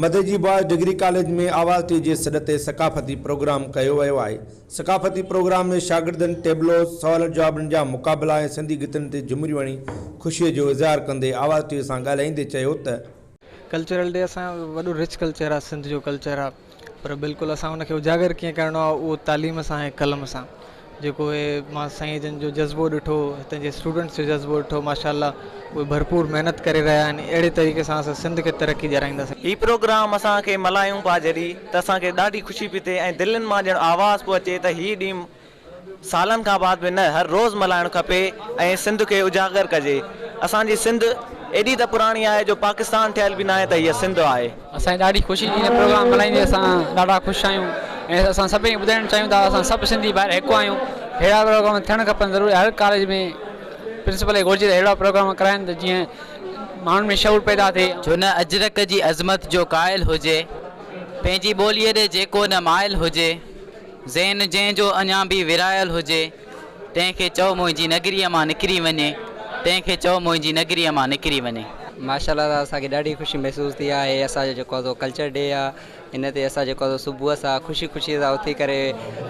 مدئي جي boys degree college ۾ Awaz TV جي سڏ تي ثقافتي پروگرام ڪيو ويو آهي. ثقافتي پروگرام ۾ شاگردن ٽيبلوز، سوالن جوابن جا مقابلا ۽ سنڌي گيتن تي جهمريون هڻي خوشي جو اظهار ڪندي آواز ٽي سان ڳالهائيندي چيو ته. ڪلچرل ڊي اسان جو وڏو رچ ڪلچر آهي سنڌ جو ڪلچر آهي پر بلڪل اسان ان کي اجاگر ڪيئن ڪرڻو آهي اهو تعليم سان ۽ قلم سان جيڪو اهي مان سائين جن جو جذبو ڏٺو هتن جي اسٽوڊنٽس جو جذبو ڏٺو ماشاءالله اهي ڀرپور محنت ڪري رهيا آهن اهڙي طريقي سان اسان سنڌ کي ترقي ڏيارائينداسين. هي پروگرام اسان کي ملايون پيا جڏي ته اسان کي ڏاڍي خوشي پي ٿئي ۽ دلين مان ڄڻ آواز پيو اچي ته هي ڏينهن سالن کان بعد به نه هر روز ملائڻ کپي ۽ سنڌ کي اجاگر ڪجي اسان جي سنڌ ايڏي ته پراڻي آهي جو پاڪستان ٺهيل به ناهي ته هيء سنڌ آهي. اسان کي ڏاڍي خوشي ٿي هن پروگرام ملهائيندي اسان ڏاڍا خوش آهيون ۽ اسان سڀني کي ٻڌائڻ چاهيون ٿا اسان سڀ سنڌي ڀائر هڪ آهيون ههڙا پروگرام ٿيڻ کپن ضروري هر ڪاليج ۾ پرنسپل کي گهرجي ته ههڙا پروگرام ڪرائن ته جيئن ماڻهن ۾ شعور پيدا ٿئي. جو نه اجرڪ جي عظمت جو قائل هجي، پنهنجي ٻوليء ڏي جيڪو نه مائل هجي، ذهن جنهن جو اڃا به ورهايل هجي، تنهن کي چئو منهنجي نگريء مان نڪري وڃي تنهن کي چئو منهنجي نگريء مان نڪري وڃي. ماشاءالله تعالٰي اسان کي ڏاڍي خوشي محسوس ٿي آهي هي اسان جو جيڪو آزو ڪلچر ڊي آ ان تي اسان جيڪو آزو صبح سان خوشي خوشي سان اٿي ڪري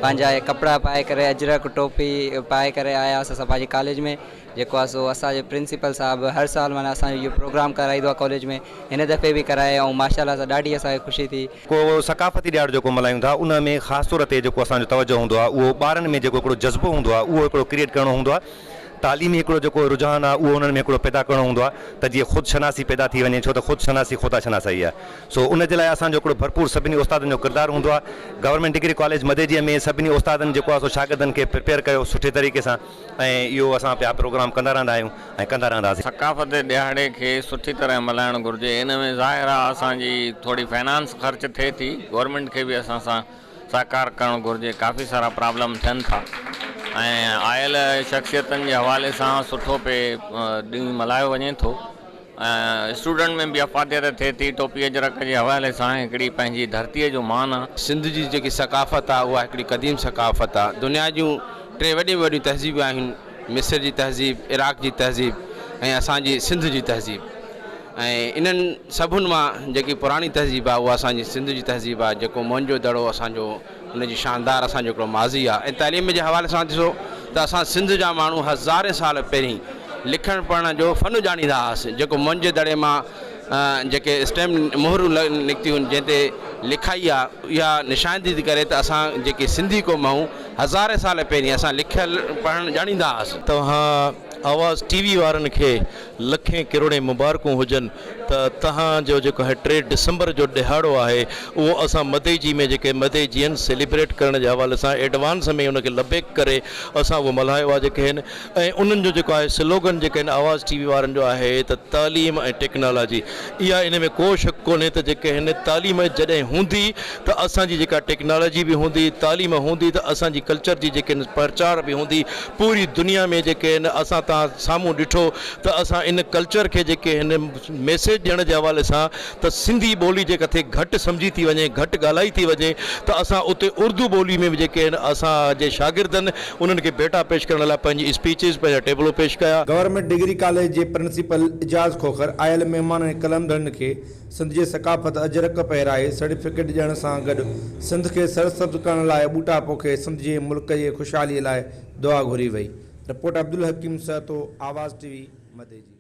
پنهنجا هي ڪپڙا پائي ڪري اجرڪ ٽوپي پائي ڪري آياس اسان پنهنجي ڪاليج ۾ جيڪو آ سو اسان جي پرنسپل صاحب هر سال معنيٰ اسان جو اهو پروگرام ڪرائيندو آ ڪاليج ۾ هن دفعي به ڪرايائون ماشاءالله سان ڏاڍي اسان کي خوشي ٿي ڪو ثقافتي ڏيھاڙو جيڪو ملھايون ٿا ان ۾ خاص طور تي جيڪو اسان جو توجھه ھوندو آھي اھو ٻارن ۾ جيڪو ھڪڙو جذبو ھوندو آھي اھو ھڪڙو ڪريئيٽ ڪرڻو ھوندو آھي تعليمي ھڪڙو جيڪو رجحان آھي اھو انھن ۾ ھڪڙو پيدا ڪرڻو ھوندو آھي ته جيئن خود شناسي پيدا ٿي وڃي ڇو ته خود شناسي خدا شناسائي آھي سو ان جي لاء اسان جو ھڪڙو ڀرپور سڀني استادن جو ڪردار ھوندو آھي گورنمينٽ ڊگري ڪاليج مديجي ۾ سڀني استادن جيڪو آھي سو شاگردن کي پريپيئر ڪيو سٺي طريقي سان ۽ اهو اسان پيا پروگرام ڪندا رهندا آهيون ۽ ڪندا رهنداسين. ثقافتي ڏهاڙي کي سٺي طرح ملهائڻ گهرجي ان ۾ ظاهر آ اسان جي ٿوري فنانس خرچ ٿئي ٿي گورنمينٽ کي به اسان سان سهڪار ڪرڻ گهرجي ڪافي سارا پرابلم ٿين ٿا ۽ آيل شخصيتن جي حوالي سان سٺو پئي ڏينهن ملهايو وڃي ٿو. اسٽوڊنٽ ۾ به افاديت ٿئي ٿي. ٽوپي اجرڪ جي حوالي سان هڪڙي پنهنجي ڌرتي جو مان آ. سنڌ جي جيڪي ثقافت آ اها هڪڙي قديم ثقافت آ. دنيا جون ٽي وڏيون ۾ وڏيون تهذيبون آهن مصر جي تهذيب، عراق جي تهذيب ۽ اسان جي سنڌ جي تهذيب ۽ انهن سڀن مان جيڪي پراڻي تهذيب آ اها اسان جي سنڌ جي تهذيب آ جيڪو موئن جو دڙو اسان جو ان جي شاندار اسان جو هڪڙو ماضي آهي ۽ تعليم جي حوالي سان ڏسو ته اسان سنڌ جا ماڻهو هزارين سال پهرين لکڻ پڙهڻ جو فن ڄاڻيندا هئاسين جيڪو مون جي دڙي مان جيڪي اسٽيم مهرون نڪتيون آهن جنهن تي لکائي آهي اها نشاندهي ٿي ڪري ته اسان جيڪي سنڌي قوم آهيون هزارين سال پهرين اسان لکڻ پڙهڻ ڄاڻيندا هئاسين. توهان آواز ٽي وي وارن کي لکين ڪروڙين مبارڪون هجن ته تهان جو جيڪو هي ٽي ڊسمبر جو ڏهاڙو آهي اهو اسان مدئي جي ۾ جيڪي مدئي جين سيليبريٽ ڪرڻ جي حوالي سان ايڊوانس ۾ ان کي لبيڪ ڪري اسان اهو ملهايو آهي جيڪي هن ۽ انهن جو جيڪو آهي سلوگن جيڪي هن آواز ٽي وي وارن جو آهي ته تعليم ۽ ٽيڪنالاجي اها ان ۾ ڪو شڪ ڪونهي ته جيڪي هن تعليم جڏهن هوندي ته اسان جي جيڪا ٽيڪنالاجي به هوندي تعليم هوندي ته اسان جي ڪلچر جي جيڪي پرچار به هوندي پوري دنيا ۾ جيڪي هن اسان تان سامهون ڏٺو ته اسان ان ڪلچر کي جيڪي هن ميسيج ڏيڻ جي حوالي سان ته سنڌي ٻولي جي ڪٿي گهٽ سمجهي ٿي وڃي گهٽ ڳالهائي ٿي وڃي ته اسان اتي اردو ٻولي ۾ به جيڪي هن اسان جي شاگردن انهن کي ڀيٽا پيش ڪرڻ لاء پنهنجي اسپيچز پنهنجا ٽيبلو پيش ڪيا. گورنمينٽ ڊگري ڪاليج جي پرنسپل اعجاز کوکر آيل مهمانن ۽ قلندرن کي سنڌ جي ثقافت اجرڪ پهرائي، سرٽيفڪيٽ ڏيڻ سان گڏ سنڌ کي سرسبز ڪرڻ لاء ٻوٽا پوکي سنڌ جي ملڪ جي خوشحالي لاء دعا گهري وئي. رپورٽ عبدالحڪيم سهتو، آواز ٽي وي، مديجي.